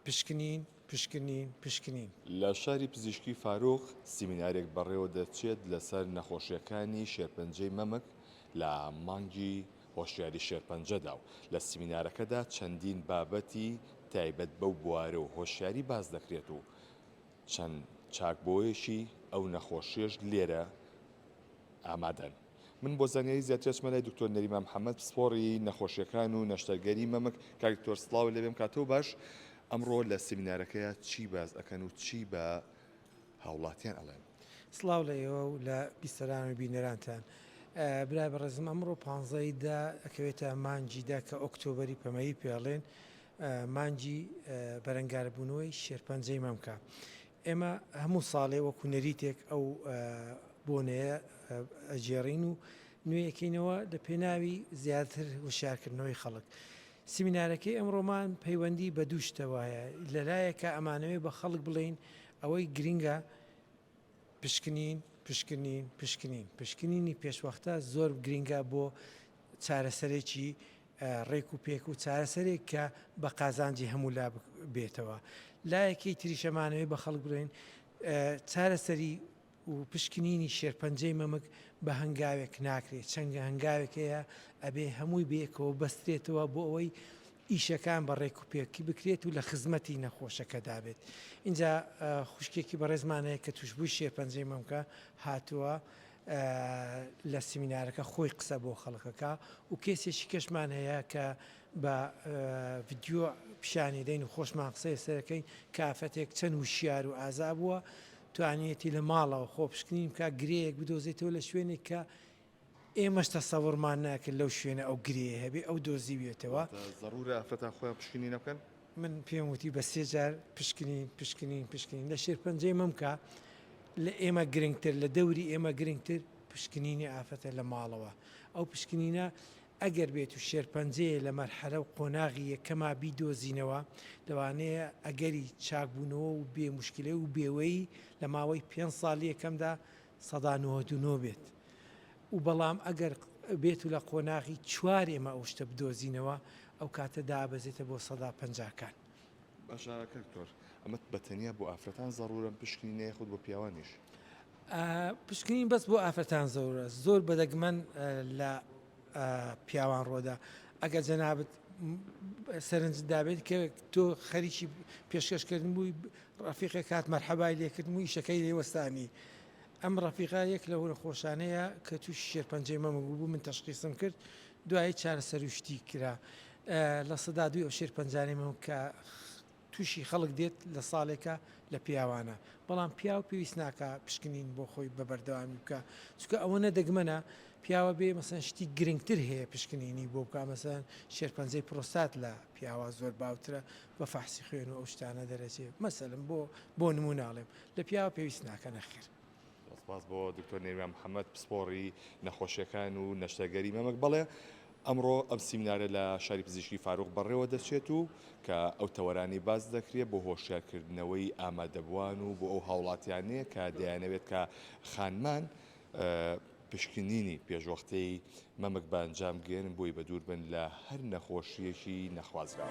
پشکنین، پشکنین، پشکنین. لە شاری پزیشکی فاروق سیمینارێک بەڕێوەدەچێت لەسەر نەخۆشییەکانی شێرپەنجەی مەمک لە مانگی هۆشیاری شێرپەنجەدا و لە سیمینارەکەدا چەندین بابەتی تایبەت بەو بوارە و هۆشیاری باس دەکرێت و چەند چاکبۆیەکی ئەو نەخۆشیەش لێرە ئامادەن. من بۆ زانیاری زیاتر ئەچمە لای دکتۆر نەریمان محمد پسپۆڕی نەخۆشیەکان و نەشتەرگەری مەمک کاک دکتۆر سڵاو لێبێم کاتەو باش ئەمڕۆ لە سیمینارەکەیا چی باس ئەکەن و چی بە هاوڵاتیان ئەڵێن. سڵاو لە ئێوە و لە بیسەران و بینەرانتان. برای بەڕێزم ئەمڕۆ پانزەی دە ئەکەوێتە مانجی دە کە ئۆکتۆبەری پەمەیی پێڵێن مانجی بەرەنگاربوونەوەی شێرپەنجەی مەمکە. ئێمە هەموو ساڵێ وەکو نەریتێک ئەو بۆنەیە ئەگێڕین و نوێی ئەکەینەوە لە پێناوی زیاتر وشیارکردنەوەی خەڵک. سیمینارەکەی ئەمڕۆمان پەیوەندی بە دوو شتەوە هەیە، لە لایەکا ئەمانەوێ بە خەڵک بڵێین ئەوەی گرنگە پشکنین، پشکنین، پشکنین، پشکنینی پێشوەختە زۆر گرنگە بۆ چارەسەرێکی ڕێک و پێک و چارەسەرێک کە بە قازانجی هەموو لا بێتەوە لایەکەی تریشەمانەوەی بە خەڵک بڵێن چارەسەری و پشکنینی شێرپەنجەی مەمک بە هەنگاوێک ناکرێت چەنگە هەنگاوێک هەیە ئەبێ هەمووی بێکەوە بەسترێتەوە بۆ ئەوەی ئیشەکان بە ڕێک و پێکی بکرێت و لە خزمەتی نەخۆشەکەدا بێت اینجا خوشکێکی بەڕێزمانەیە کە توشببووی شێرپەنجەی مەمکە هاتووە لە سمینارەکە خۆی قسە بۆ خەڵک ئەکا و کەیسێکی کەشمان هەیە کە بە ڤیدیۆ پیشانی دەین و خۆشمان قسەی لەسەر دەکەین کە ئافرەتێک چەند وشیار و ئازا بووە توانیویەتی لە ماڵەوە خۆپشکنین بکا گرێیەک بدۆزێتەوە لە شوێنێک کە ئێمەش تەسەوڕمان ناکرد لەو شوێنە ئەو گرێیە هەبێ ئەو دۆزیویەتەوە. ضرورە ئافرەتان خۆیان پشکنینە بکەن؟ من پێم وتی بە سێ جار پشکنین، پشکنین، پشکنین، لە شێرپەنجەی مەمکە لە ئێمە گرنگتر، لە دەوری ئێمە گرنگتر پشکنینی ئافرەتە لە ماڵەوە. ئەو پشکنینە ئەگەر بێت و شێرپەنجەیە لە مەرحەلە و قۆناغی یەکەما بیدۆزینەوە، لەوانەیە ئەگەری چاکبوونەوە و بێ موشکیلە و بێوەیی لە ماوەی پێنج ساڵی یەکەمدا سەدا نۆهەد و نۆ بێت و بەڵام ئەگەر بێت و لە قۆناغی چوار ئێمە ئەو شتە بدۆزینەوە ئەو کاتە دابەزێتە بۆ سەدا پەنجاکان. باشە کاک تۆر ئەمە بە تەنیا بۆ ئافرەتان زەڕوورەم پشکنی نە یاخود بۆ پیاوانیش؟ پشکنین بەس بۆ ئافرەتان زۆرە زۆر بەدەگمەن لە پیاوان ڕۆدا ئەگە جەنابەت سەرنج دابێت کە تۆ خەریکی پێشکەشکردن بووی ڕەفیقێک هات مەرحەبای لێ کردم و ئیشەکەی لێ وەستانی. ئەم ڕەفیقە یەک لەو نەخۆشانەیە کە تووشی شێرپەنجەی مەمک بووبوو، من تەشخیسم کرد، دوایی چارەسەر و شتی کرا. لە سەدا دووی ئەو شێرپەنجانەی مەمک کە تووشی خەڵک دێت لە ساڵێکا لە پیاوانە، بەڵام پیاو پێویست ناکا پشکنین بۆ خۆی بە بەردەوامی بکا، چونکە ئەوەنە دەگمەنە پیاوە بێ مەسەن شتی گرنگتر هەیە پشکنینی بۆ بکا، مەسەن شێرپەنجەی پرۆستات لە پیاوا زۆر باوترە، بە فەحسی خوێن و ئەو شتانە دەرەچێ مەسەلەن بۆ بۆ نموونە ئەڵێم لە پیاوە پێویست ناکە نەخێر. سپاس بۆ دکتۆر نێرمیان محەمەد پسپۆڕی نەخۆشیەکان و نەشتەرگەری مەمک بەڵێ ئەمڕۆ ئەم سیمینارە لە شاری پزیشکی فاروق بەڕێوە دەچێت و کە ئەو تەوەرانی باز دەکرێت بۆ هۆشیارکردنەوەی ئامادەبوان و بۆ ئەو هاوڵاتیانەیە کە دەیانەوێت کە خانمان پشکنینی پێشوەختەی مەمک بە ئەنجام گەیەنن بۆی بە دوور بن لە هەر نەخۆشییەکی نەخوازراو.